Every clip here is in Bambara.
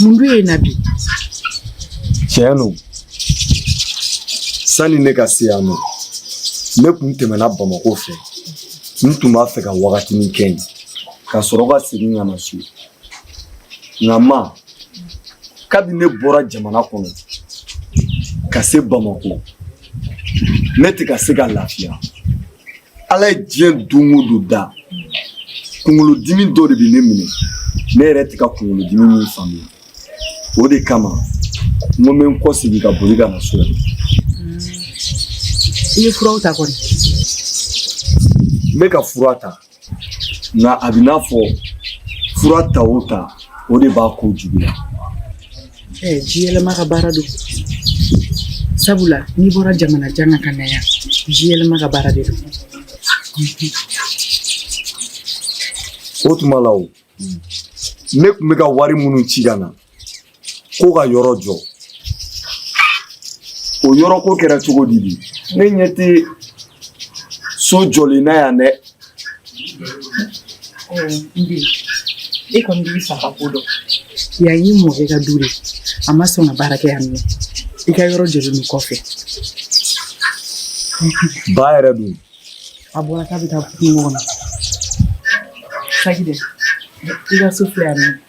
mun dun ye na bi tiɲɛ don sanni ne ka se yan nɔ ne kun tɛmɛna bamako fɛ n tun b'a fɛ ka wagatinin kɛ yen ka sɔrɔ ka segin ka na so nka ma kabi ne bɔra jamana kɔnɔ ka se bamako ne tɛ ka se ka lafiya ala ye diɲɛ don o don da kunkolodimi dɔ de bɛ ne minɛ ne yɛrɛ tɛ ka kunkolodimi min faamuya o de kama n ko n bɛ n kɔsegin ka boli ka na so yan. i ye furaw ta kɔni. n bɛ ka fura ta. nka a b'i n'a fɔ fura ta o ta o de b'a ko juguya. Ɛɛ ji yɛlɛma ka baara don sabula n'i bɔra jamana jan na ka na yan ji yɛlɛma ka baara de don. O tuma la o ne tun bɛ ka wari minnu ci ka na ko ka yɔrɔ jɔ o yɔrɔ ko kɛra cogo di de ne ɲɛ tɛ so jɔlen na yan dɛ e kɔni b'i fa ka ko dɔn yan y'i mɔkɛ ka du de a ma sɔn ka baara kɛ yan nɔ i ka yɔrɔ jɔlen don kɔfɛ ba yɛrɛ dun a bɔra k'a bɛ taa kungo kɔnɔ saki dɛ i ka so filɛ yan nɔ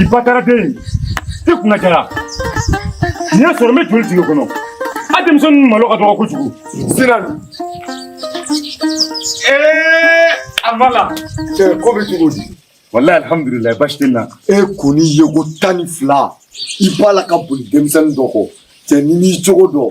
i bataraden ye i kunna diyara nin y'a sɔrɔ n bɛ joli tigɛ kɔnɔ a denmisɛnnin malo ka dɔgɔ kojugu sinali ee amala ko bɛ cogo di walayi alihamudulila basi tɛ n na e kɔni ye ko tan ni fila i b'a la ka boli denmisɛnnin dɔ kɔ cɛnin nin cogo don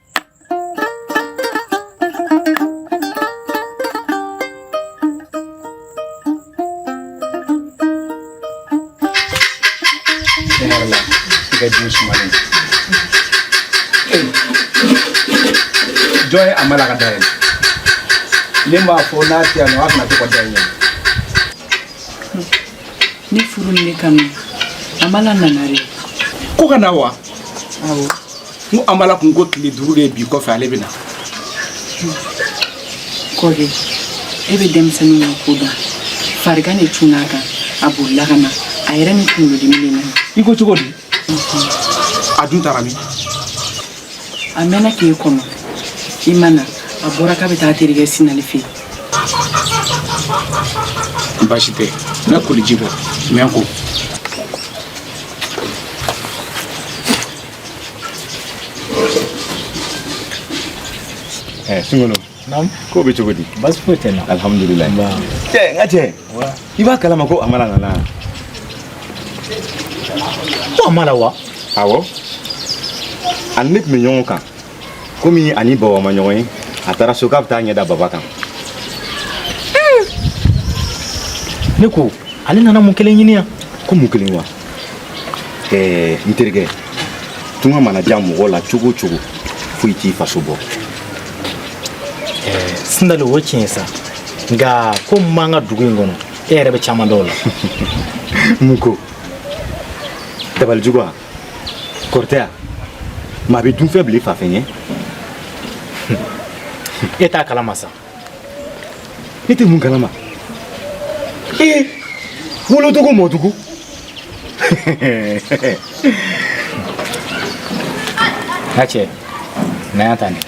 jɔn ye amala ka da yɛlɛ ne m'a fɔ n'a tɛ yan nɔ a kana to ka da yɛlɛ ne furu ni ne kanu amala nana de ko ka na wa awɔ n ko an b'a la kun ko tile duuru de ye bi kɔfɛ ale bɛ na kɔde e bɛ denmisɛnninw ka ko dɔn farigan de cunn'a kan a bolila ka na a yɛrɛ ni kunkolodimi de nana i ko cogo di a dun taara min a mɛnna k'e kɔnɔ i ma na a bɔra k'a bɛ taa a terikɛ sinali fɛ yen baasi tɛ n bɛ koliji bɔ n bɛ n ko eh sungolo naamu ko bɛ cogo di baasi foyi tɛ n na alihamudulilayi cɛ n ka cɛ i b'a kalama ko amala nana ko amala wa awɔ a ni ne tun bɛ ɲɔgɔn kan komi a ni baba ma ɲɔgɔn ye a taara so k'a bɛ taa ɲɛ da baba kan ne ko ale nana mun kelen ɲini yan ko mun kelen wa ɛɛ n terikɛ tunga mana diya mɔgɔ la cogo o cogo foyi t'i faso bɔ sindali o tiɲɛ ye sa nka ko min b'an ka dugu in kɔnɔ e yɛrɛ bɛ caman dɔn o la mun ko dabalijugu wa kɔrɔtɛ yan maa bɛ dunfɛn bila i fa fɛ ɲɛ e t'a kalama sa e tɛ mun kalama ee wolodugu mɔdugu n'a cɛ na yan ta nin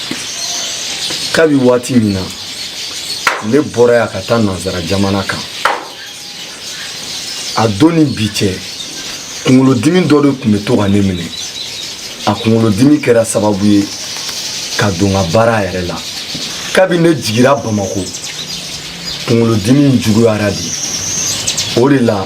kabi waati min na ne bɔra yan ka taa nanzara jamana kan a don ni bi cɛ kunkolodimi dɔ de tun bɛ to ka ne minɛ a kunkolodimi kɛra sababu ye ka don n ka baara yɛrɛ la kabi ne jigira bamako kunkolodimi juguyara de o de la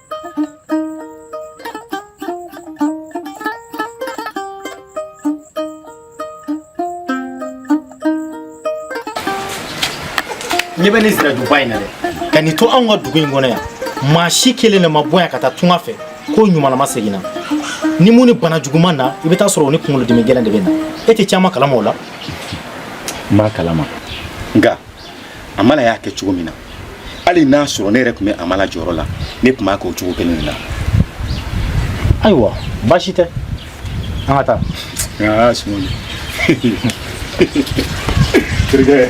ɲɛ bɛ ne sira duguba in na dɛ ka ne to anw ka dugu in kɔnɔ yan maa si kelen de ma bɔ yan ka taa tunga fɛ k'o ɲumanlama seginna ni min ni bana jugu ma na i bɛ t'a sɔrɔ o ni kunkolodimi gɛlɛn de bɛ na e tɛ caman kalama o la n b'a kalama nka amala y'a kɛ cogo min na hali n'a sɔrɔ ne yɛrɛ tun bɛ amala jɔyɔrɔ la ne tun b'a kɛ o cogo kelen de la ayiwa baasi tɛ an ka taa aa sumuni terikɛ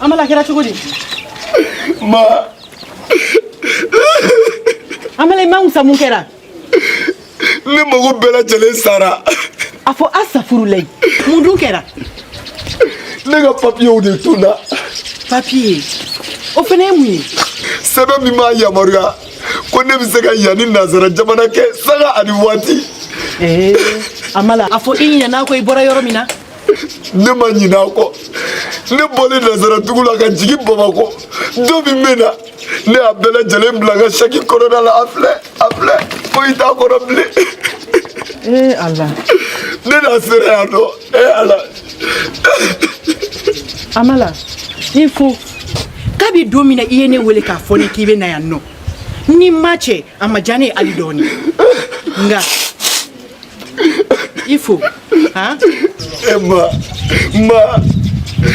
Amala kɛra cogo di? Ma. Amala i man kusa mun kɛra? ne mago bɛɛ lajɛlen sara a fɔ asafurulayi mun dun kɛra ne ka papiyew de tununna papiye o fana ye mun ye sɛbɛn min b'a yamaruya ko ne bɛ se ka yan ni nanzara jamana kɛ sanga ani waati ee amala a fɔ i ɲinɛna ko i bɔra yɔrɔ min na ne ma ɲinɛ a kɔ ne bɔlen nansara dugu la ka jigin bamakɔ don min bɛ na ne y'a bɛɛ lajɛlen bila n ka saki kɔnɔna la a filɛ a filɛ foyi t'a kɔnɔ bilen ee ala ne na sera yan nɔ ee ala amala i fo kabi don min na i ye ne wele k'a fɔ ne k'i bɛ na yan nɔ ni ma cɛ a ma diya ne ye hali dɔɔni nka il faut han ee mama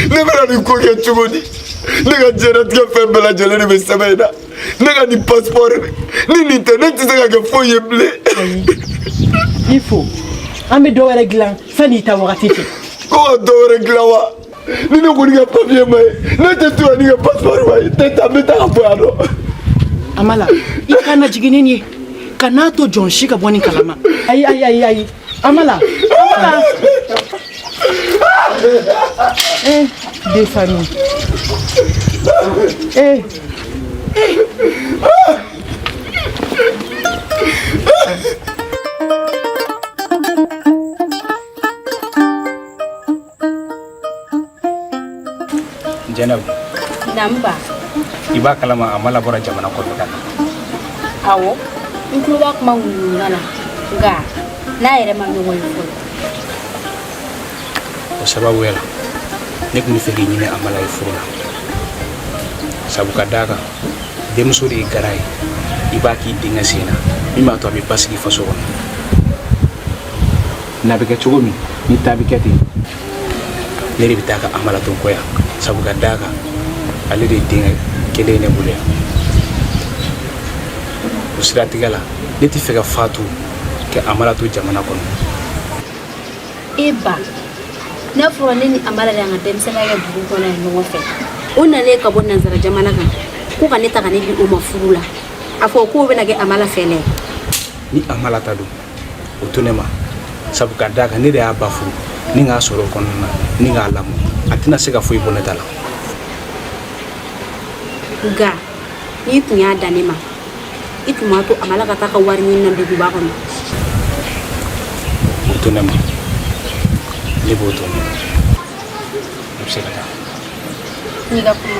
ne bɛna nin ko kɛ cogo di ne ka diɲɛnatigɛ fɛn bɛɛ lajɛlen de bɛ sɛbɛn in na ne ka nin pasipɔri ni nin tɛ ne tɛ se ka kɛ foyi ye bilen il faut an bɛ dɔ wɛrɛ dilan sanni i taa wagati cɛ ko ka dɔ wɛrɛ dilan wa ni ne kɔni ka papiye ma ye ne tɛ to ni n ka pasipɔri ma ye n tɛ taa n bɛ taa ka bɔ yan nɔ. amala i kana jigin ni nin ye kan'a to jɔn si ka bɔ nin kalama ayi ayi ayi ayi amala amala. eh de famille eh. jɛnɛba danba i b'a kalama amala bɔra jamana kɔnɔ ka na awɔ n tulo b'a kuma ŋunuŋunu na nka n n'a yɛrɛ ma ɲɔgɔn ye fɔlɔ o sababuya la ne tun b'a fɛ k'i ɲini amala ye furu la sabu ka d'a kan denmuso de ye garan ye i b'a k'i denkɛ sen na min b'a to a bɛ basigi faso kɔnɔ n'a bɛ kɛ cogo min ni ta bɛ kɛ ten ne de bɛ taa ka amala to n kɔ yan sabu ka d'a kan ale de ye denkɛ kelen ye ne bolo yan o siratigɛ la ne t'a fɛ ka fatu ka amala to jamana kɔnɔ e ba n'a fɔra ne ni amala de y'an ka denmisɛnninya kɛ dugu kɔnɔ yan ɲɔgɔn fɛ o nalen ka bɔ nansara jamana kan ko ka ne ta ka ne di o ma furu la a fɔ k'o bɛna kɛ amala fɛlɛ ye ni amala ta don o to ne ma sabu ka d'a kan ne de y'a ba furu ni k'a sɔrɔ o kɔnɔna na ni k'a lamɔ a tɛna se ka foyi bɔ ne ta la nka n'i tun y'a da ne ma i tun b'a to amala ka taa ka wari ɲini na duguba kɔnɔ o to ne ma ne b'o to ne ma i bɛ se ka taa n'i ka kuma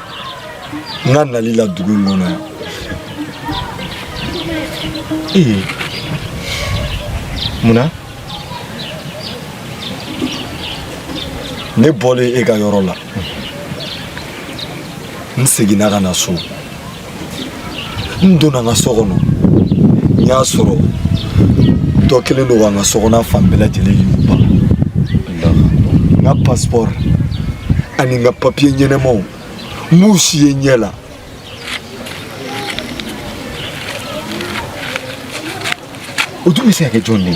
n ka nali la dugu in kɔnɔ yan ee munna ne bɔlen e ka yɔrɔ la n seginna ka na so n donna n ka so kɔnɔ n y'a sɔrɔ dɔ kɛlen don ka n ka so kɔnɔna fan bɛɛ lajɛlen yuguba n ka pasipɔri ani n ka papiye ɲɛnamaw n m'u si ye n ɲɛ la o dun bɛ se ka kɛ jɔn de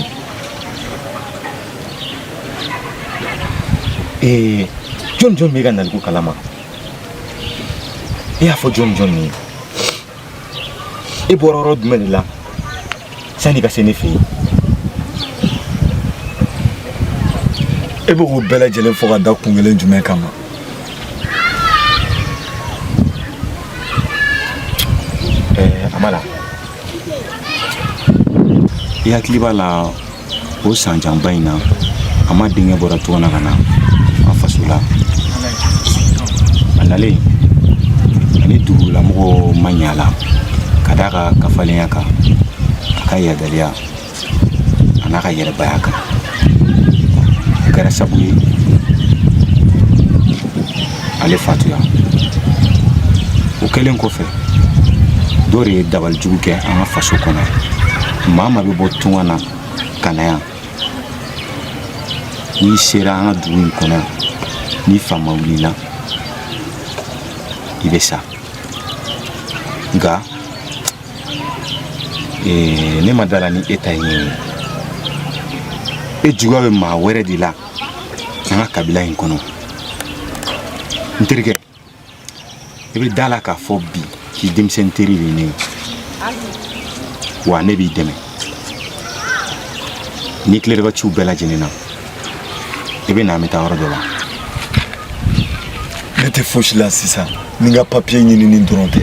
ye jɔn jɔn b'i ka naliko kalama i y'a fɔ jɔn jɔn ye i bɔra yɔrɔ jumɛn de la sani ka se ne fɛ yen e bɛ k'o bɛɛ lajɛlen fɔ ka da kun kelen jumɛn kama ɛɛ amala i hakili b'a la o san janba in na a ma denkɛ bɔra tunga na ka na an faso la a nalen a ni dugulamɔgɔw ma ɲa la ka d'a ka kafalenya kan a ka yadaliya an'a ka yɛrɛbaya kan o kɛra sabu ye ale fatuya o kɛlen kɔfɛ dɔ de ye dabalijugu kɛ an ka faso kɔnɔ maa maa bɛ bɔ tunga na ka na yan n'i sera an ka dugu in kɔnɔ yan ni fa ma wuli i la i bɛ sa nka ne ma da a la ni e ta ye nin ye e juguya bɛ maa wɛrɛ de la an ka kabila in kɔnɔ n terikɛ i bɛ da a la k'a fɔ bi k'i denmisɛnnin teri de ye ne ye wa ne b'i dɛmɛ n'i tilara i ka ciw bɛɛ lajɛlen na i bɛ na an bɛ taa yɔrɔ dɔ la ne tɛ fosi la sisan ni n ka papiye ɲinini dɔrɔn tɛ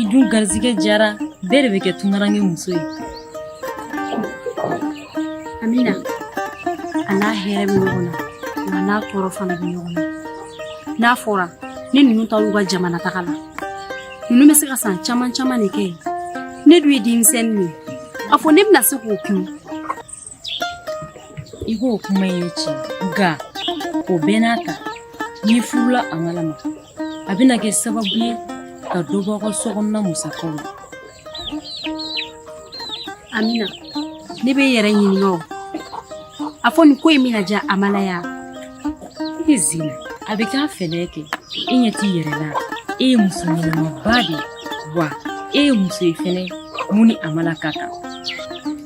i dun garizigɛ diyara bɛɛ de bɛ kɛ tungaranke muso ye amina a n'a hɛrɛ bɛ ɲɔgɔn na a n'a tɔɔrɔ fana bɛ ɲɔgɔn na n'a fɔra ni ninnu taar'u ka jamana taga la ninnu bɛ se ka san caman caman de kɛ yen ne dun ye denmisɛnnin ye a fɔ ne bɛna se k'o kun i k'o kuma ye tiɲɛ nka o bɛɛ n'a ta n'i furula amala ma a bɛna kɛ sababu ye ka dɔ bɔ aw ka so kɔnɔna musakaw la amina ne bɛ n yɛrɛ ɲininka o a fɔ nin ko in bɛna diya amala ye i zina a bɛ k'a fɛlɛ kɛ i ɲɛ t'i yɛrɛ la e ye muso ɲɛnamaba de ye wa e ye muso ye fana min ni amala ka kan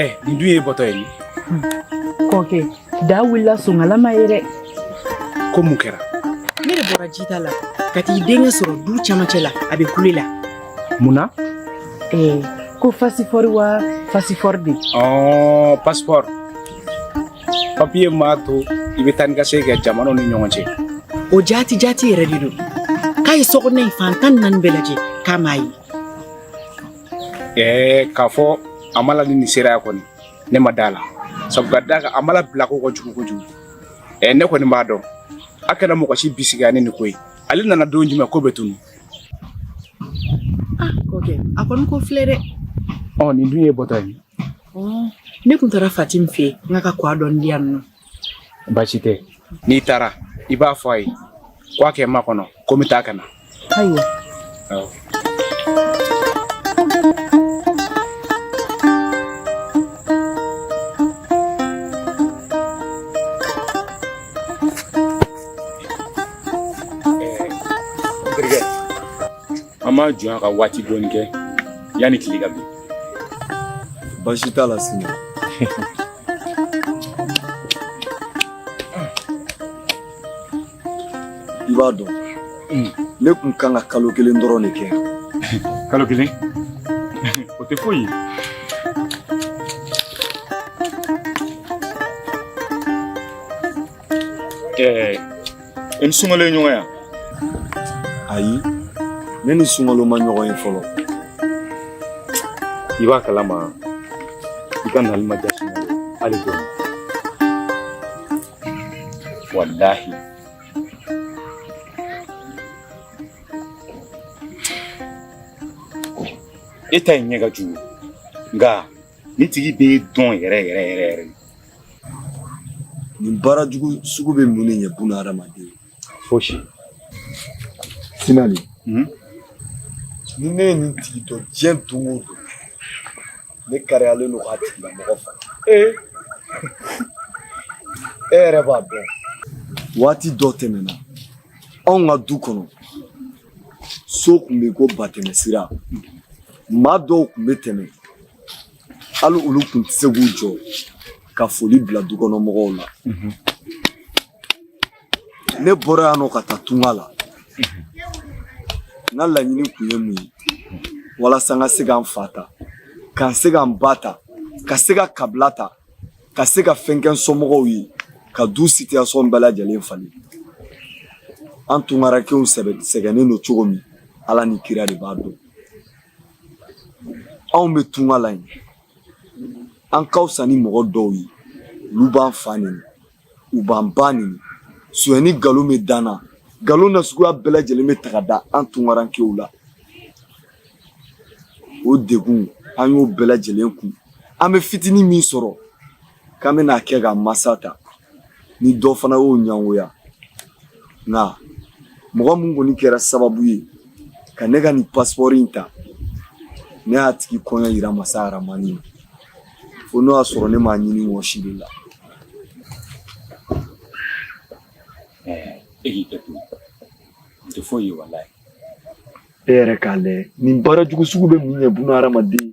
ɛ eh, nin dun ye bɔtɔ ye hmm. kɔkɛ da wulila songalama ye dɛ ko mun kɛra ne de bɔra jita la ka t'i denkɛ sɔrɔ du camancɛ la a bɛ kule la mun na eh, ko fasifɔri wa fasifɔri de ɔ oh, pasipɔri papiye m'a to i bɛ taa ni ka segin jamanaw ni ɲɔgɔn cɛ o jaati jaati yɛrɛ de don k'a ye sokɔnɔ in fan tan ni naani bɛɛ lajɛ k'a m'a ye ɛɛ k'a fɔ hamala ni nin sera yan kɔni ne ma d'a la sabu ka d'a kan hamala bila ko ka jugu kojugu ɛɛ ne kɔni m'a dɔn a kana mɔgɔ si bisigiya ni nin ko ye ale nana don jumɛn k'o bɛ tunu ah kɔkɛ a kɔni ko filɛ dɛ ɔ nin dun ye bɔtɔ ye ne tun taara fatim fɛ n k'a ka kwa dɔɔni di yan ɔ baasi tɛ n'i taara i b'a fɔ a ye ko a ka n makɔnɔ ko n bɛ taa ka na ayiwa an b'an jɔ yan ka waati dɔɔni kɛ yanni tile ka bin baasi t'a la sini i b'a dɔn ne tun kan ka kalo kelen dɔrɔn de kɛ kalo kelen o tɛ foyi ye Ɛɛ i ni sunkalo ye ɲɔgɔn ye wa ayi ne ni sunkalo ma ɲɔgɔn ye fɔlɔ i b'a kalama i ka nali ma diya sunkalo hali dɔɔni walahi i t'a ye ɲɛ ka jugu nka nin tigi bɛ dɔn yɛrɛ yɛrɛ yɛrɛ yɛrɛ nin baara jugu sugu bɛ mun de ɲɛ bunadamaden ye fosi sinali hmm? ni ne ye nin tigi dɔn diɲɛ don o don ne kalilen don k'a tigilamɔgɔ faga ee e yɛrɛ b'a dɔn waati dɔ tɛmɛna anw ka du kɔnɔ so tun b'i ko batɛmɛ sira maa dɔw tun bɛ tɛmɛ hali olu tun tɛ se k'u jɔ ka foli bila du kɔnɔ mɔgɔw la mhm. ne bɔra yan nɔ ka taa tunga la mhm. n ka laɲini tun ye mun ye walasa n ka se ka n fa ta ka n se ka n ba ta ka se ka kabila ta ka se ka fɛn kɛ n somɔgɔw ye ka du sitiyasɔn bɛɛ lajɛlen falen an tungarankew sɛgɛnnen don cogo min ala ni kira de b'a dɔn anw bɛ tunga la yen an ka fisa ni mɔgɔ dɔw ye olu b'an fa neni u b'an ba neni sonyani nkalon bɛ d'an na nkalon n'a suguya bɛɛ lajɛlen bɛ ta ka da an tungarankew la o degun an y'o bɛɛ lajɛlen kun an bɛ fitinin min sɔrɔ k'an bɛn'a kɛ ka masa ta ni dɔ fana y'o ɲangoya nka mɔgɔ min kɔni kɛra sababu ye ka ne ka nin pasipɔri in ta ne y'a tigi koɲɛ yira masa aramani na fo n'o y'a sɔrɔ ne m'a ɲini wɔsi de la e k'i hakɛ to n tɛ foyi ye walayi e yɛrɛ k'a lajɛ nin baara jugu sugu bɛ mun ɲɛ buna hadamaden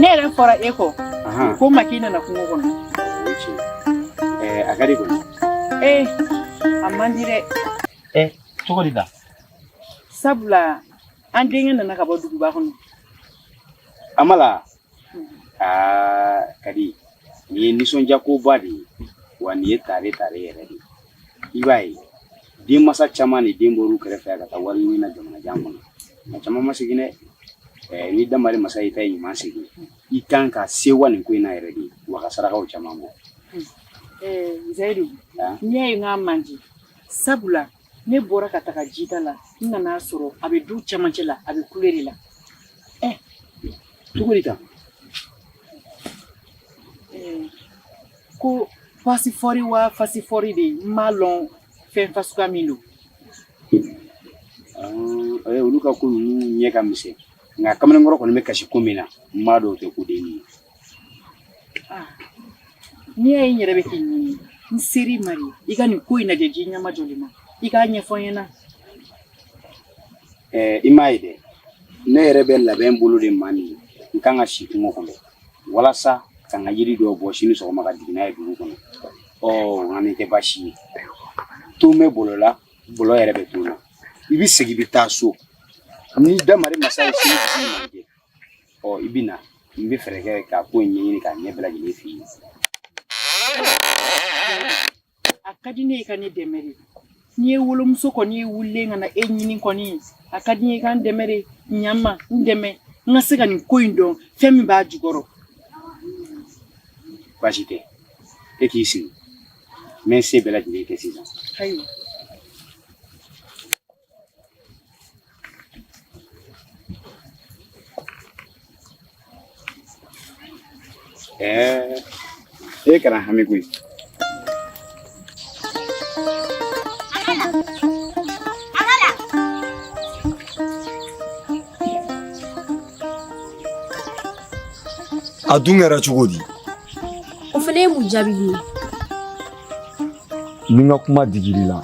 ne yɛrɛ fɔra e kɔ ko maki nana kungo kɔnɔ a ka di kɔni ee a man di dɛ ɛ cogo di la sabula an denkɛ nana ka bɔ duguba kɔnɔ amala aa ka di nin ye nisɔndiyakoba de ye wa nin ye tare tare yɛrɛ de ye i b'a ye denmansa caman de den bɔr'u kɛrɛfɛ ka taa wari ɲini na jamanajan kɔnɔ nka caman ma segin dɛ eh, ni damari masa y'i ta ɲuman segin i kan ka sewa nin ko in na yɛrɛ de wa ka sarakaw caman bɔ eh, zayidu ah. n'i y'a ye n k'a man di sabula ne bɔra ka taga jita la n nan'a sɔrɔ a bɛ du cɛmancɛ la a bɛ kule de la ɛ cogo di kan ko fasifɔri wa fasifɔri de n m'a lɔn fɛn fa suguya min don olu ka ko ninnu ɲɛ ka misɛn nka kamalenkɔrɔ kɔni bɛ kasi ko min na n m'a dɔn o tɛ ko den ye ah, n'i y'a ye n yɛrɛ bɛ k'i ɲini n seri mari i ka nin ko in lajɛ ji ɲɛma jɔlen na i k'a ɲɛfɔ n ɲɛna eh, i m'a ye dɛ ne yɛrɛ bɛ labɛn bolo de ma nin n kan ka si kungo kɔnɔ walasa ka n ka yiri dɔw bɔ sini sɔgɔma ka jigin n'a ye dugu kɔnɔ ɔ nka nin tɛ baasi ye ton bɛ bolo la bolo yɛrɛ bɛ ton na i bɛ segin i bɛ taa so ni damari masa ye sini ɔ i bɛ na n bɛ fɛɛrɛ kɛ ka ko in ɲɛɲini k'a ɲɛ bɛɛ lajɛlen f'i ye a ka di ne ye i ka ne dɛmɛ de n'i ye wolomuso kɔni ye wulilen ka na e ɲini kɔni a ka di n ye i ka n dɛmɛ de ɲan ma n dɛmɛ n ka se ka nin ko in dɔn fɛn min b'a jukɔrɔ baasi tɛ e k'i sigi n bɛ n se bɛɛ lajɛlen kɛ sisan ayiwa Eh, eh kana hami kui. A dun kɛra cogo di? O fana ye mun jaabi ye? ni n ka kuma digir'i la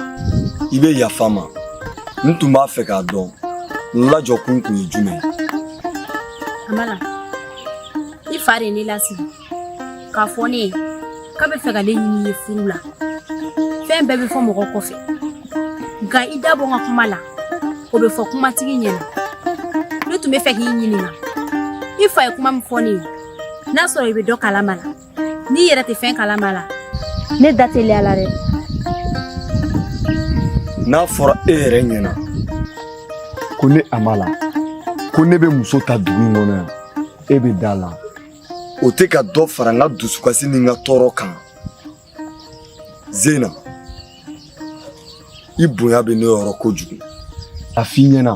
i bɛ yafa n ma n tun b'a fɛ k'a dɔn n lajɔ kun kun ye jumɛn ye amala i fa de ye ne lasigi k'a fɔ ne ye k'a bɛ fɛ ka ne ɲini i ye furu la fɛn bɛɛ bɛ fɔ mɔgɔ kɔfɛ nka i da bɔ n ka kuma la o bɛ fɔ kumatigi ɲɛna ne tun bɛ fɛ k'i ɲininka i fa ye kuma min fɔ ne ye n'a sɔrɔ i bɛ dɔ kalama a la n'i yɛrɛ tɛ fɛn kalama a la ne da teliyala dɛ n'a fɔra e yɛrɛ ɲɛna ko ne amala ko ne bɛ muso ta dugu in kɔnɔ yan e bɛ da a la o tɛ ka dɔ fara n ka dusukasi ni n ka tɔɔrɔ kan zena i bonya bɛ ne yɔrɔ kojugu a f'i ɲɛna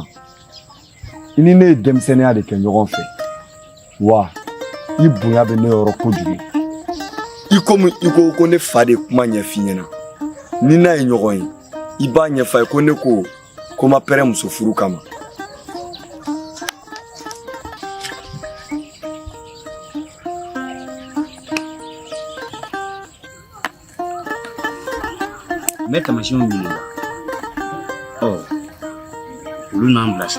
i ni ne ye denmisɛnninya de kɛ ɲɔgɔn fɛ wa i bonya bɛ ne yɔrɔ kojugu i komi i ko ko ne fa de kuma ɲɛf'i ɲɛna n'i n'a ye ɲɔgɔn ye i b'a ɲɛf'a ye ko ne ko ko n ma pɛrɛ muso furu kama Meta machine ni. Oh. Luna mblash.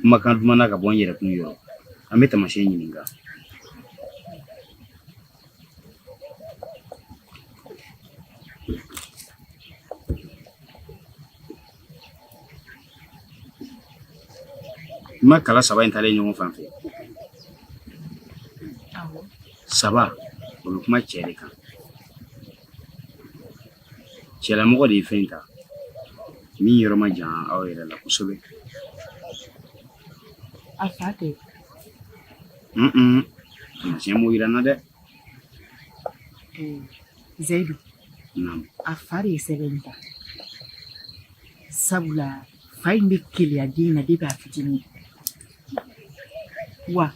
kumakan duman na ka bɔ n yɛrɛ kun yɔrɔ an bɛ tamasiyɛn ɲininka n ma kala saba in talen ɲɔgɔn fan fɛ saba o bɛ kuma cɛ de kan cɛlamɔgɔ de ye fɛn ta min yɔrɔ ma jan aw yɛrɛ la kosɛbɛ a fa tɛ tamasiyɛn b'o yira n na dɛ zayidu a fa de ye sɛbɛn ta sabula fa in bɛ keleya den na depi a fitinin wa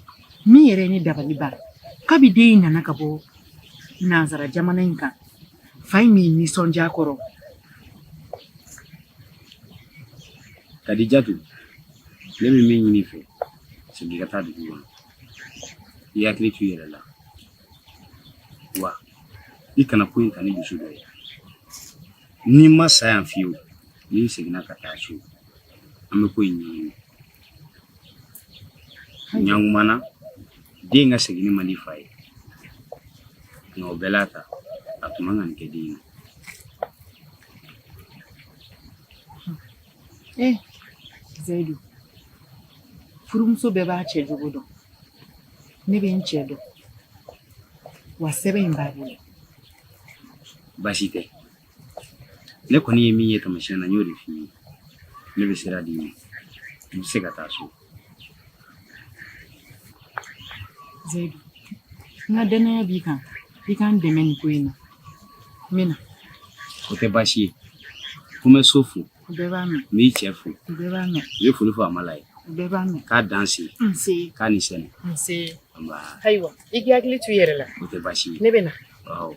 min yɛrɛ ye ne dabali ban kabi den in nana ka bɔ nansara jamana in kan fa in min nisɔndiya kɔrɔ kadijatu ne bɛ min ɲini i fɛ segin ka taa dugu kɔnɔ i hakili to i yɛrɛ la wa i kana ko in ta ni dusu dɔ ye n'i ma sa yan fiyewu n'i seginna ka taa so an bɛ ko in ɲɛɲini ɲa ɲuman na den ka seginni man di fa ye nka o bɛɛ l'a ta a tun man ka nin kɛ den na eh zayidu furumuso bɛɛ b'a cɛ jogo dɔn ne bɛ n cɛ dɔn wa sɛbɛn in b'a bolo baasi tɛ ne kɔni ye min ye tamasiyɛn na n y'o de f'i ye ne bɛ sira d'i ma i bɛ se ka taa so Zaidu, n ka dannaya b'i kan i k'an dɛmɛ nin ko in na n bɛ na. O tɛ baasi ye ko n bɛ so fo. U bɛɛ b'a mɛn. N b'i cɛ fo. U bɛɛ b'a mɛn. U ye foli fɔ Amala ye. U bɛɛ b'a mɛn. K'a dan se. N se. K'a ni sɛnɛ. N se. Nba. Ayiwa i k'i hakili to i yɛrɛ la. O tɛ baasi ye. Ne bɛ na. Awɔ.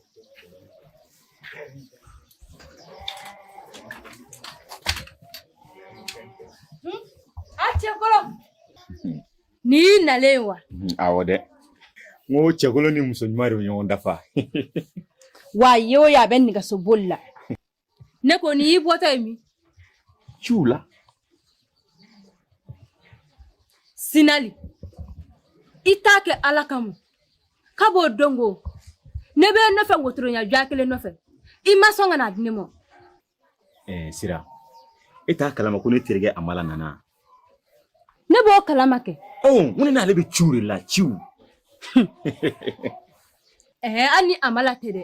Ni nalen wa awɔ dɛ n ko cɛ kolon ni muso ɲuman de bɛ ɲɔgɔn dafa wa ye o ye a bɛ nɛgɛso boli la ne ko nin y'i bɔtɔ ye min ciw la sinali i t'a kɛ ala kama kab'o don ko ne b'e nɔfɛ wotoro ɲa jɔ kelen nɔfɛ i ma sɔn ka n'a di ne ma eh, sira e t'a kalama ko ne terikɛ amala nana ne b'o kalama kɛ oh, n ko ne n'ale bɛ ciw de la ciw ɛɛ eh, hali ni amala tɛ dɛ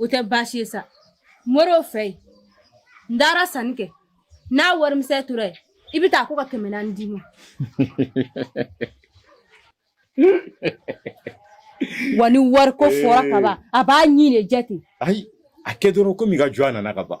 o tɛ baasi ye sa moriw fɛ yen n taara sanni kɛ n'a warimisɛn tora yen i bɛ taa ko ka kɛmɛ naani d'i ma wa ni wari ko fɔra ka ban a b'a ɲin de jɛ ten ayi a kɛ dɔrɔn komi i ka jɔ a nana ka ban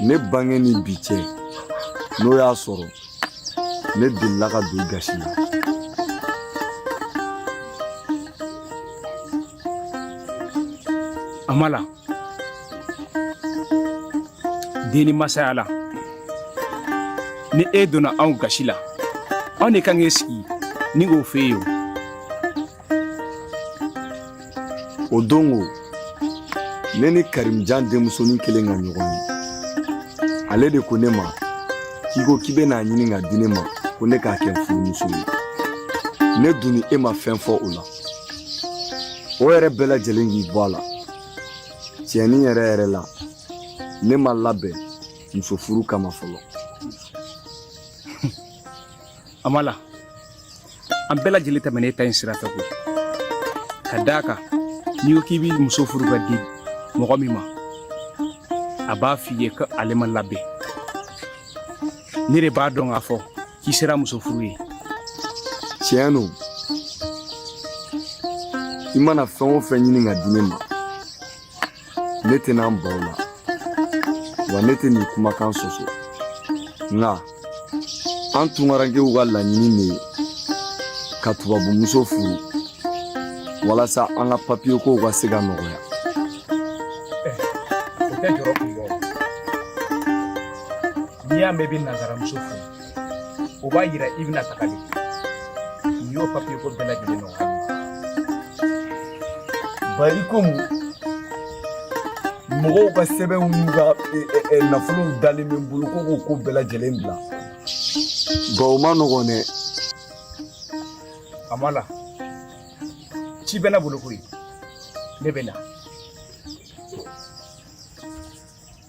ne bange ni bi cɛ n'o y'a sɔrɔ ne delila ka don gasi la amala den ni masaya la ni e donna anw gasi la anw de kan k'e sigi ni k'o f'e ye o o don ko ne ni karimujan denmusonin kelen ka ɲɔgɔn ye ale de ko ne ma k'i ko k'i bɛna a ɲini ka di ne ma ko ne k'a kɛ n furumuso ye ne dun ni e ma fɛn fɔ o la o yɛrɛ bɛɛ lajɛlen k'i bɔ a la tiɲɛnin yɛrɛ yɛrɛ la ne ma labɛn muso furu kama fɔlɔ Amala an bɛɛ lajɛlen tɛmɛnen don nin sira fɛ koyi ka d' a kan n'i ko k'i bɛ muso furu ka di mɔgɔ min ma a b'a f'i ye ko ale ma labɛn ne de b'a dɔn k'a fɔ k'i sera muso furu ye tiɲɛ don i mana fɛn o fɛn ɲini ka di ne ma ne tɛna n ban o la wa ne tɛ nin kumakan sɔsɔ nka an tunkarankew ka laɲini de ye ka tubabumuso furu walasa an ka papiye kow ka se ka nɔgɔya n'i y'a mɛn i bɛ nazaramuso furu o b'a yira i bɛna taga de n'i y'o papiye ko bɛɛ lajɛlen nɔgɔya bari komi mɔgɔw ka sɛbɛnw n'u ka nafolow dalen bɛ n bolo ko k'o ko bɛɛ lajɛlen bila nka o man nɔgɔn dɛ amala ci bɛ ne bolo koyi ne bɛ na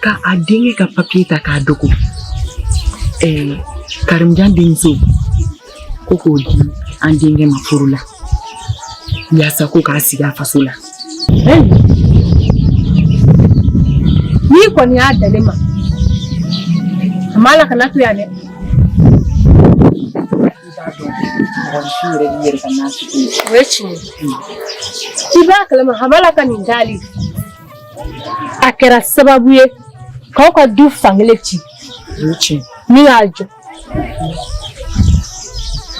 ka a denkɛ ka papiye ta k'a dogo ɛɛ karimujan denmuso ko k'o di an denkɛ ma furu la yaasa ko k'a sigi a faso la n'i kɔni y'a dalen ma amala kana to yan dɛ mɔgɔninfin yɛrɛ b'i yɛrɛ ka n'a sigi o ye tiɲɛ ye i b'a kalama amala ka nin dali a kɛra sababu ye k'aw ka du fankelen ci ni y'a jɔ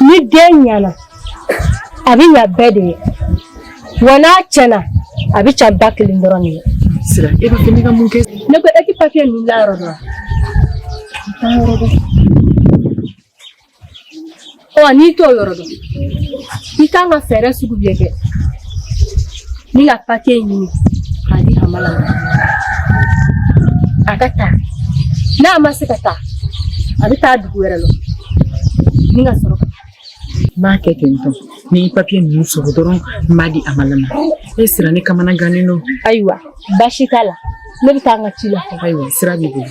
ni den ɲɛna a bɛ ɲa bɛɛ de ye wa n'a tiɲɛna a bɛ tiɲɛ ba kelen dɔrɔn de ye sira e b'a fɛ ne ka mun kɛ ne ko e ti papiye ninnu layɔrɔ dɔn wa ɔ n'i t'o yɔrɔ dɔn i kan ka fɛɛrɛ sugu bɛɛ kɛ ni ka papiye ɲini k'a di amala a ka taa n'a ma se ka taa a bɛ taa dugu wɛrɛ la ni ka sɔrɔ ka n b'a kɛ ten tɔ ni n ye papiye ninnu sɔrɔ dɔrɔn n b'a di amala ma e sira ne kamanagannen don ayiwa baasi t'a la ne bɛ taa an ka ci la ayiwa sira b'i bolo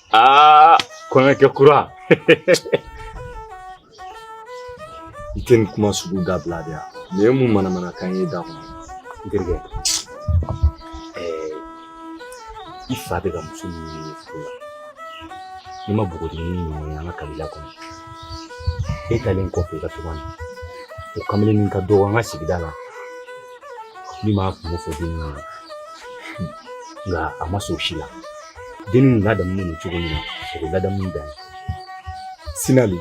Ah, kɔɲɔkɛ kura i tɛ nin kuma sugu dabila dɛ yan nin ye mun manamanakan ye i da kɔnɔ n terikɛ i fa bɛ ka muso min ɲini furu la n'i ma bogotigini ɲuman ye an ka kabila kɔnɔ e taalen kɔfɛ i ka taama na o kamalennin ka dɔgɔ an ka sigida la min ma kun fɔ den na nka a ma sɔn si la den ladamunen don cogo min na o bɛ ladamu dan Sinali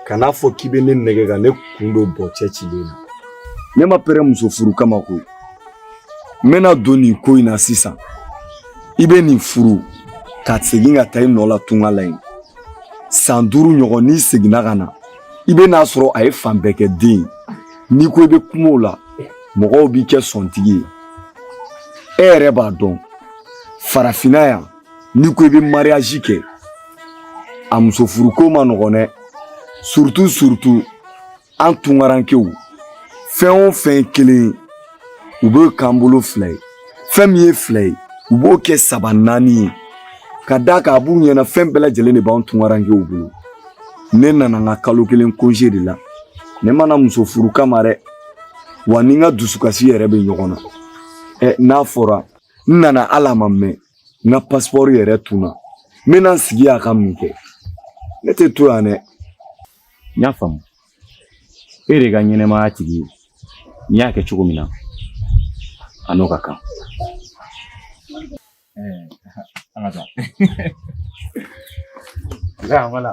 kana a fɔ k'i bɛ ne nɛgɛn ka ne kun don bɔ cɛcilen na ne ma pɛrɛ muso furu kama koyi n bɛna don nin ko in na sisan i bɛ nin furu ka segin ka taa i nɔ la tunga la yen san duuru ɲɔgɔn n'i seginna ka na i bɛn'a sɔrɔ a ye fan bɛɛ kɛ den ye n'i ko i bɛ kuma o la mɔgɔw b'i kɛ sɔntigi ye e yɛrɛ b'a dɔn farafinna yan n'i ko i bɛ mariyazi kɛ a muso furuko ma nɔgɔn dɛ surutu surutu an tungarankew fɛn o fɛn kelen u b'o k'an bolo fila ye fɛn min ye fila ye u b'o kɛ saba naani ye ka d'a kan a b'u ɲɛna fɛn bɛɛ lajɛlen de b'an tungarankew bolo ne nana n ka kalo kelen konze de la ne ma na muso furu kama dɛ wa n ni n ka dusukasi yɛrɛ bɛ ɲɔgɔn na ɛ n'a fɔra n nana hali a ma mɛn n ka pasipɔri yɛrɛ tununna n bɛna n sigi yan ka mun kɛ ne tɛ to yan dɛ n y'a faamu e de ka ɲɛnamaya tigi ye n'i y'a kɛ cogo min na a n'o ka kan an ka taa nka wala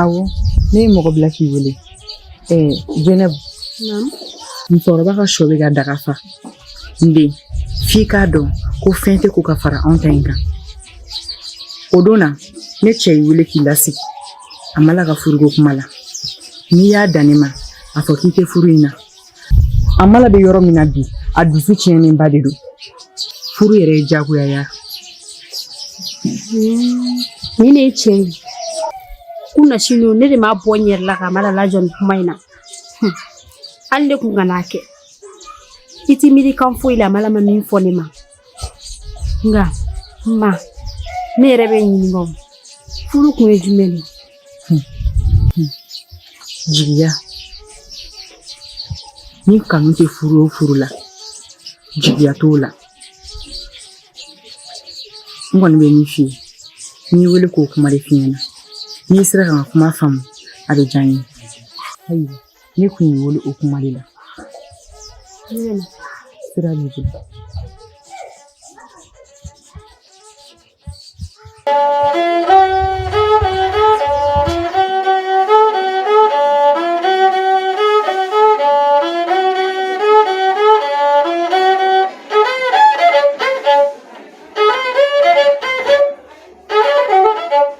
Awɔ ne ye mɔgɔ bila k'i wele ɛɛ Zɛnɛbu musokɔrɔba ka shɔ b'a ka daga fa n den f'i k'a dɔn ko fɛn tɛ ko ka fara anw ta in kan o don na ne cɛ y'i wele k'i lasigi Amala ka furuko kuma la n'i y'a dan ne ma a fɔ k'i tɛ furu in na Amala bɛ yɔrɔ min na bi a dusu tiɲɛnenba de don furu yɛrɛ ye diyagoya ye nin de ye tiɲɛ ye kunasini ne de m'a bɔ n yɛrɛ la k'Amala lajɔ nin kuma in na hali ne kun ka n'a kɛ i t'i miiri kan foyi la Amala ma min fɔ ne ma nka ma ne yɛrɛ b'i ɲininka furu kun ye jumɛn ye jigiya ni kanu tɛ furu o furu la jigiya t'o la n kɔni bɛ min f'i ye n y'i wele k'o kuma de f'i ɲɛna n'i sera ka n ka kuma faamu a bɛ diya n ye ne kun y'i wele o kuma de la sira b'i bolo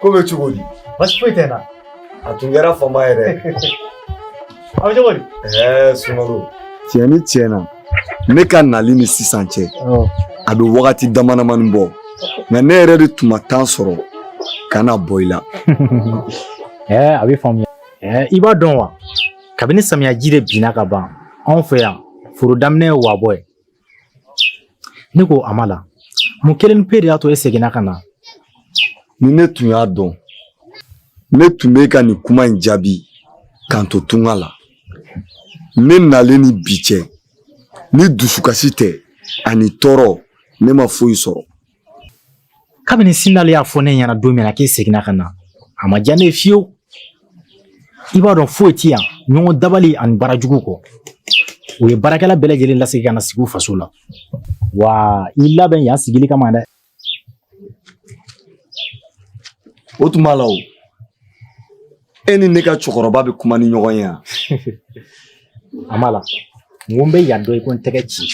ko bɛ cogo di baasi foyi tɛ n na a tun kɛra fama yɛrɛ aw cogo di ɛɛ sumaworo tiɲɛ ni tiɲɛ na ne ka nali ni sisan cɛ a bɛ wagati damadamani bɔ nka ne yɛrɛ de tun ma tan sɔrɔ ka na bɔ i la ɛɛ a bɛ faamuya ɛɛ i b'a dɔn wa kabini samiyaji de binna ka ban anw fɛ yan foro daminɛ ye wabɔ ye Ne ko Amala mun kelen pe de y'a to e seginna ka na ni ne tun y'a dɔn ne tun bɛ ka nin kuma in jaabi ka n to tunga la ne nalen ni bi cɛ ni dusukasi tɛ ani tɔɔrɔ ne ma foyi sɔrɔ kabini sinale y'a fɔ ne ɲɛna don min na k'e seginna ka na a ma diya ne ye fiyewu i b'a dɔn foyi ti yan ɲɔgɔn dabali ani baara jugu kɔ u ye baarakɛla bɛɛ lajɛlen lasegin ka na sigi u faso la wa i labɛn yan sigili kama dɛ o tuma la e ni ne ka cɛkɔrɔba bɛ kuma ni ɲɔgɔn ye yan Amala n ko n bɛ yan dɔn i ko n tɛgɛ ci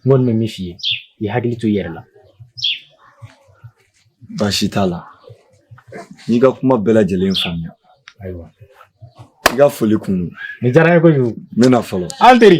n kɔni bɛ min f'i ye i hakili to i yɛrɛ la baasi t'a la n y'i ka kuma bɛɛ lajɛlen faamuya ayiwa i ka foli kun don nin diyara n ye kojugu n bɛna fɔlɔ an teri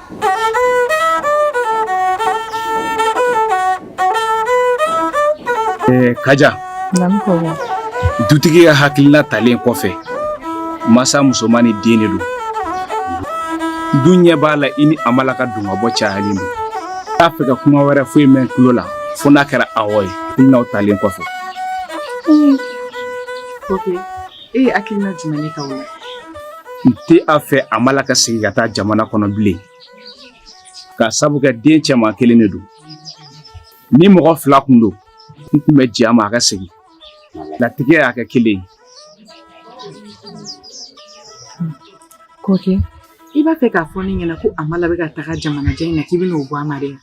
kaja dutigi ka hakilina talen kɔfɛ masa musomannin den de don n dun ɲɛ b'a la i ni Amala ka don ka bɔ cayalen don n t'a fɛ ka kuma wɛrɛ foyi mɛn n tulo la fo n'a kɛra awɔ ye hakilinaw talen kɔfɛ E ye hakilina jumɛn ye k'aw la n tɛ a fɛ Amala ka segin ka taa jamana kɔnɔ bilen ka sabu kɛ den cɛman kelen de don ni mɔgɔ fila kun don n tun bɛ jɛn a ma a ka segin latigɛ y'a kɛ kelen ye kɔkɛ i b'a fɛ k'a fɔ ne ɲɛna ko Amala bɛ ka taga jamanajɛ in na k'i bɛn'o bɔ a ma de wa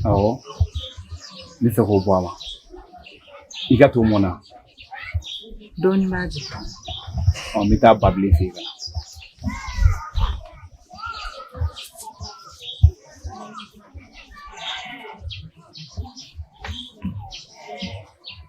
Awɔ n bɛ fɛ k'o bɔ a la i ka to mɔn na dɔɔnin b'a jɛ ɔ n bɛ taa babilen fɛ yen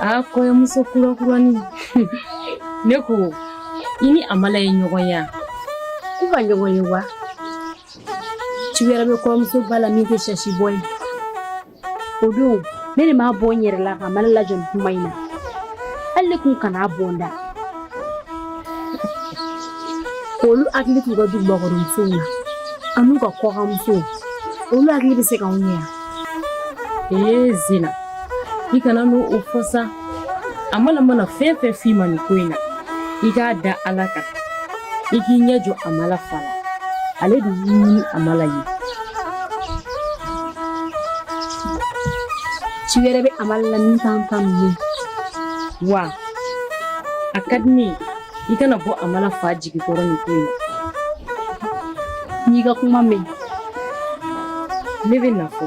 a kɔɲɔmuso kurakurani ne ko i ni amala ye ɲɔgɔn ye u ka ɲɔgɔn ye wa ci wɛrɛ bɛ kɔɲɔmuso ba la min tɛ sasi bɔ ye o don ne de m'a bɔ n yɛrɛ la k'amala lajɔ nin kuma in na hali ne kun kan'a bɔ n da k'olu hakili t'u ka dugubakɔrɔmusow la an'u ka kɔkanmusow olu hakili bɛ se k'anw ɲɛ yan ee zena i kana n'o fɔ sa amala mana fɛn fɛn f'i ma nin ko in na i k'a da ala kan i k'i ɲɛ jɔ amala fa la ale de y'i ɲini amala ye ci wɛrɛ bɛ amala la min t'an ta ninnu ye wa a ka di ne ye i kana bɔ amala fa jigi kɔrɔ nin ko in na n'i ka kuma mɛn ne bɛ na fɔ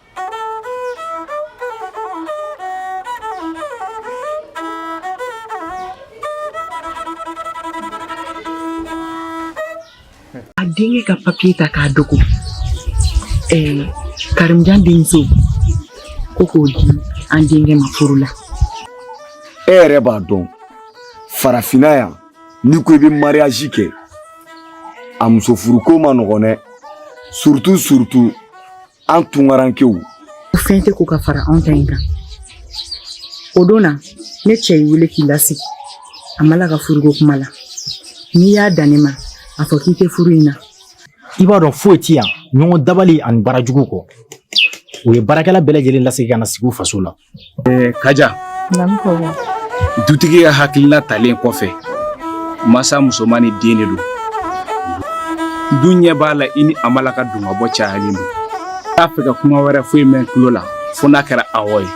A denkɛ ka papiye ta k'a dogo ɛɛ karimjan denmuso ko k'o di an denkɛ ma furu la e yɛrɛ b'a dɔn farafinna yan n'i ko i bɛ mariyazi kɛ a muso furuko man nɔgɔn dɛ surutu surutu an tunkarankew o fɛn tɛ ko ka fara anw ta in kan o don na ne cɛ y'i wele k'i lasigi amala ka furuko kuma la n'i y'a dan ne ma a fɔ k'i tɛ furu in na i b'a dɔn foyi ti yan ɲɔgɔn dabali ani baara jugu kɔ u ye baarakɛla bɛɛ lajɛlen lasegin ka na sigi u faso la kaja dutigi ka hakilina talen kɔfɛ masa musomannin den de don n dun ɲɛ b'a la i ni amala ka don ka bɔ cayalen don n t'a fɛ ka kuma wɛrɛ foyi mɛn tulo la fo n'a kɛra awɔ ye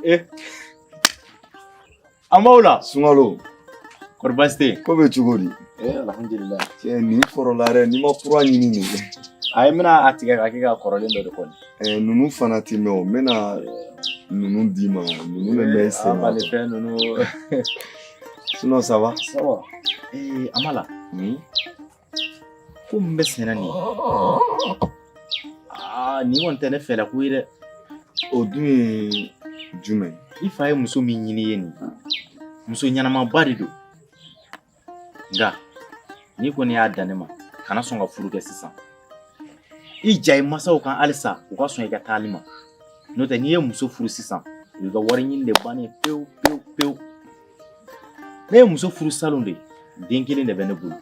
Eh. An b'aw la sunkalo kɔrɔ baasi tɛ yen ko bɛ cogo di eh, alhamdulilayi cɛ nin kɔrɔla yɛrɛ n'i ma kura ɲini nin kɛ a ye n bɛna a tigɛ ka kɛ ka kɔrɔlen dɔ de kɔni eh, ninnu fana tɛ mɛn o n bɛna ninnu d'i ma ninnu bɛ mɛn i sen na bale fɛn ninnu sinon ça va ça va eh, Amala ko min bɛ senna nin aa nin kɔni tɛ ne fɛla ko ye dɛ o dun ye jumɛn i fa ye muso min ɲini i ye nin muso ɲɛnamaba de don nka n'i kɔni y'a dan ne ma kana sɔn ka furu kɛ sisan i ja i masaw kan halisa u ka sɔn i ka taali ma n'o tɛ n'i ye muso furu sisan i ka wari ɲini de bannen pewu pewu pewu ne ye muso furu salon de den kelen de bɛ ne bolo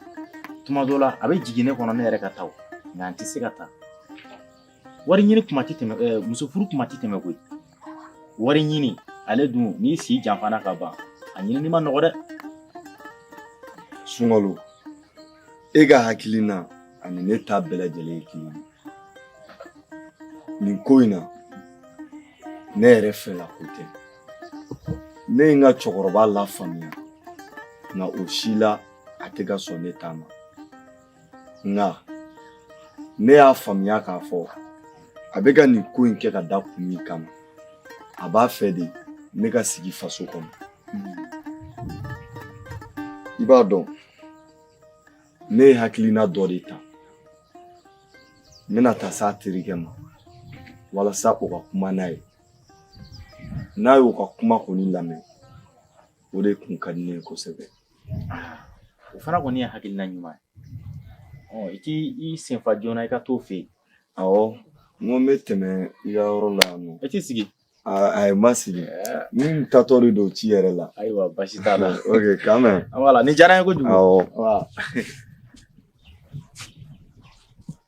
tuma dɔ la a bɛ jigin ne kɔnɔ ne yɛrɛ ka taa nka n tɛ se ka taa wari ɲini tuma tɛ tɛmɛ eh, muso furu tuma tɛ tɛmɛ koyi wari ɲini ale dun n'i si janfana ka ban a ɲinini man nɔgɔ dɛ sunkalo e ka hakilina ani ne ta bɛɛ lajɛlen ye kelen ye nin ko in na ne yɛrɛ fɛla ko tɛ ne ye n ka cɛkɔrɔba lafaamuya nka o si la a tɛ ka sɔn ne ta ma nka ne y'a faamuya k'a fɔ a bɛ ka nin ko in kɛ ka da kun min kama a b'a fɛ de ne ka sigi faso kɔnɔ i b'a dɔn ne ye hakilina dɔ de ta n bɛna taa s'a terikɛ ma walasa o ka kuma n'a ye n'a y'o ka kuma kɔni lamɛn o de kun ka di ne ye kosɛbɛ o fana kɔni ye hakilina ɲuman ye ɔ i k'i senfa joona i ka t'o fɛ yen awɔ n ko n bɛ tɛmɛ i ka yɔrɔ la yan nɔ i t'i sigi ayi n ma sigi n taatɔ de don ci yɛrɛ la ayiwa basi t'a la ok k'an bɛn wala nin diyara n ye kojugu awɔ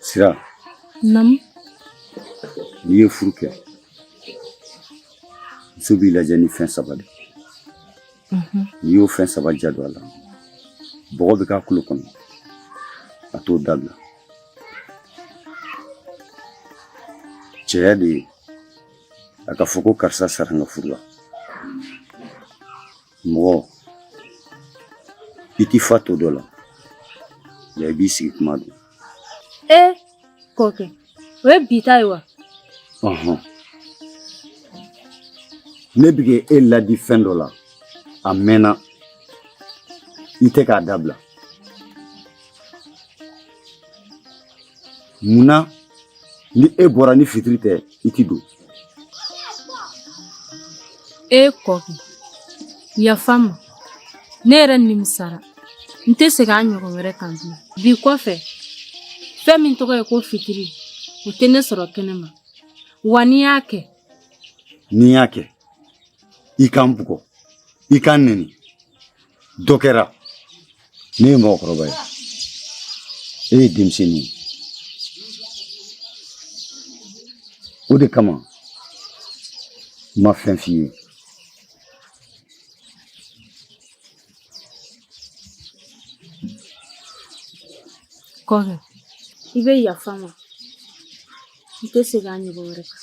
Sira. Naamu. N'i ye furu kɛ, muso b'i lajɛ ni fɛn saba de ye. Unhun. N'i y'o fɛn saba diya don a la, bɔgɔ bɛ k'a tulo kɔnɔ, a t'o dabila. Cɛya de ye a ka fɔ ko karisa sara n ka furu la. mɔgɔ i t'i fa to dɔ la nka i b'i sigi kuma don e kɔkɛ o ye bi ta ye wa ɔhɔn ne bɛ ka e ladi fɛn dɔ la a mɛnna i tɛ k'a dabila munna ni e bɔra ni fitiri tɛ i ti don e kɔ yafa n ma ne yɛrɛ nimisara n tɛ segin a ɲɔgɔn wɛrɛ kan bilen bi kɔfɛ fɛn min tɔgɔ ye ko fitiri o tɛ ne sɔrɔ kɛnɛ ma wa n'i y'a kɛ n'i y'a kɛ i ka n bugɔ i ka n nɛni dɔ kɛra ne ye mɔgɔkɔrɔba ye e ye denmisɛnnin ye o de kama n ma fɛn f'i ye kɔfɛ i bɛ yafa n ma i tɛ segin a ɲɔgɔn wɛrɛ kan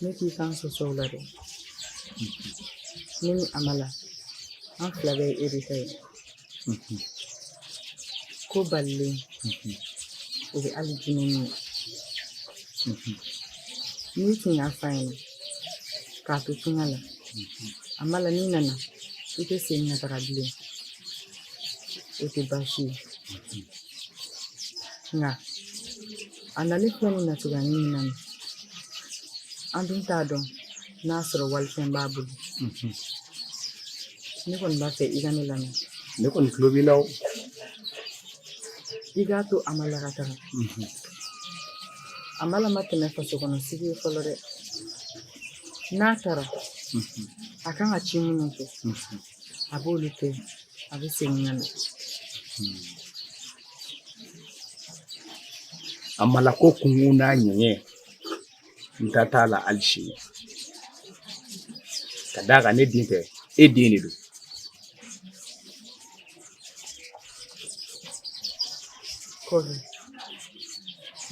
ne t'i kan sɔsɔ la dɛ ne ni Amala an fila bɛɛ ye e de ta ye ko balilen o bɛ hali jinɛ min ye n'i tun y'a f'a ɲɛna k'a to tunga la Amala n'i nana i tɛ segin ka taga bilen o tɛ baasi ye nka a nalen filɛ ni natiya min na an dun t'a dɔn n'a sɔrɔ walifɛn b'a bolo ne kɔni b'a fɛ i ka ne lamɛn ne kɔni tulo b'i la o i k'a to Amala ka taga Amala ma tɛmɛ faso kɔnɔ sigi ye fɔlɔ dɛ n'a taara a kan ka ci minnu kɛ a b'olu kɛ a bɛ segin ka na Amala ko kun n'a ɲɛ n ta t'a la ali sini ka d'a kan ne den tɛ e den de don kɔrɔ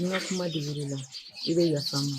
n ka kuma digira i la i bɛ yafa n ma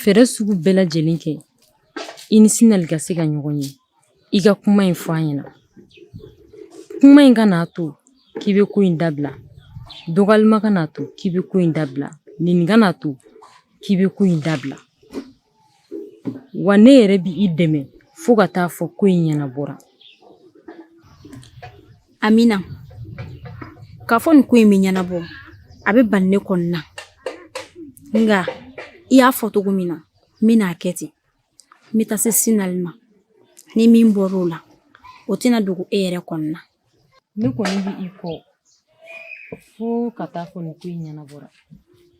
fɛɛrɛ sugu bɛɛ lajɛlen kɛ i ni Sinali ka se ka ɲɔgɔn ye i ka kuma in fɔ a ɲɛna kuma in kan'a to k'i bɛ ko in dabila dɔgɔyalima kan'a to k'i bɛ ko in dabila nɛni kan'a to k'i bɛ ko in dabila wa ne yɛrɛ bi i dɛmɛ fo ka taa fɔ ko in ɲɛnabɔra Amina k'a fɔ nin ko in bɛ ɲɛnabɔ a bɛ bali ne kɔni na nka i y'a fɔ cogo min na n bɛna a kɛ ten n bɛ taa se Sinali ma ni min bɔra o la o tɛna dogo e yɛrɛ kɔni na ne kɔni bɛ i kɔ fo ka taa fɔ nin ko in ɲɛnabɔra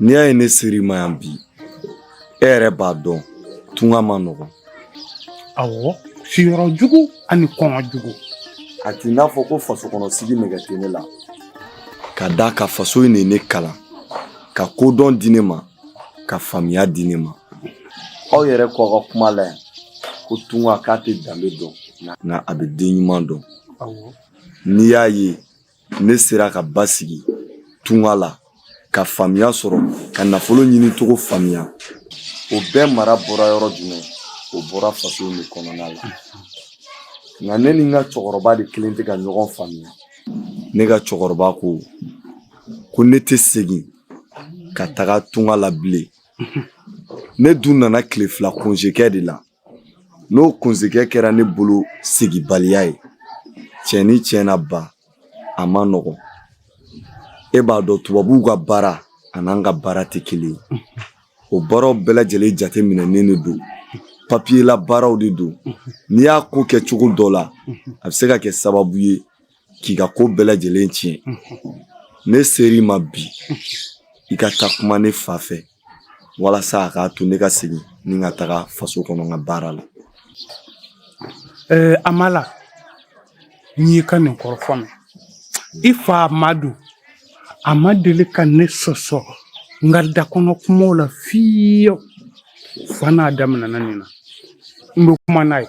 N'i y'a ye ne ser'i ma yan bi e yɛrɛ b'a dɔn tunga man nɔgɔn awɔ siyɔrɔ jugu ani kɔngɔ jugu a t'i n'a fɔ ko faso kɔnɔ sigi nege tɛ ne la ka d'a kan faso in de ye ne kalan ka kodɔn di ne ma ka faamuya di ne ma aw yɛrɛ k'aw ka kuma la yan ko tunga k'a tɛ danbe dɔn nka a bɛ den ɲuman dɔn n'i y'a ye ne sera ka basigi tunga la ka faamuya sɔrɔ ka nafolo ɲini cogo faamuya o bɛɛ mara bɔra yɔrɔ jumɛn o bɔra faso de kɔnɔna la nka ne ni n ka cɛkɔrɔba de kelen tɛ ka ɲɔgɔn faamuya ne ka cɛkɔrɔba ko ko ne tɛ segin ka taga tunga la bilen ne dun nana tile fila konze kɛ de la N'o konze kɛ kɛra ne bolo seginbaliya ye tiɲɛ ni tiɲɛ na ba a man nɔgɔ e b'a dɔn tubabuw ka baara an'an ka baara tɛ kelen ye o baaraw bɛɛ lajɛlen jateminɛnen de don papiyela baaraw de don n'i y'a ko kɛ cogo dɔ la a bɛ se ka kɛ sababu ye k'i ka ko bɛɛ lajɛlen tiɲɛ ne ser'i ma bi i ka taa kuma ne fa fɛ walasa a k'a to ne ka segin n ka taga faso kɔnɔ n ka baara la Amala n y'i ka nin kɔrɔfɔ mɛn i fa Amadu a ma deli ka ne sɔsɔ n ka da kɔnɔ kumaw la fiyew fo n'a daminɛna nin na n bɛ kuma n'a ye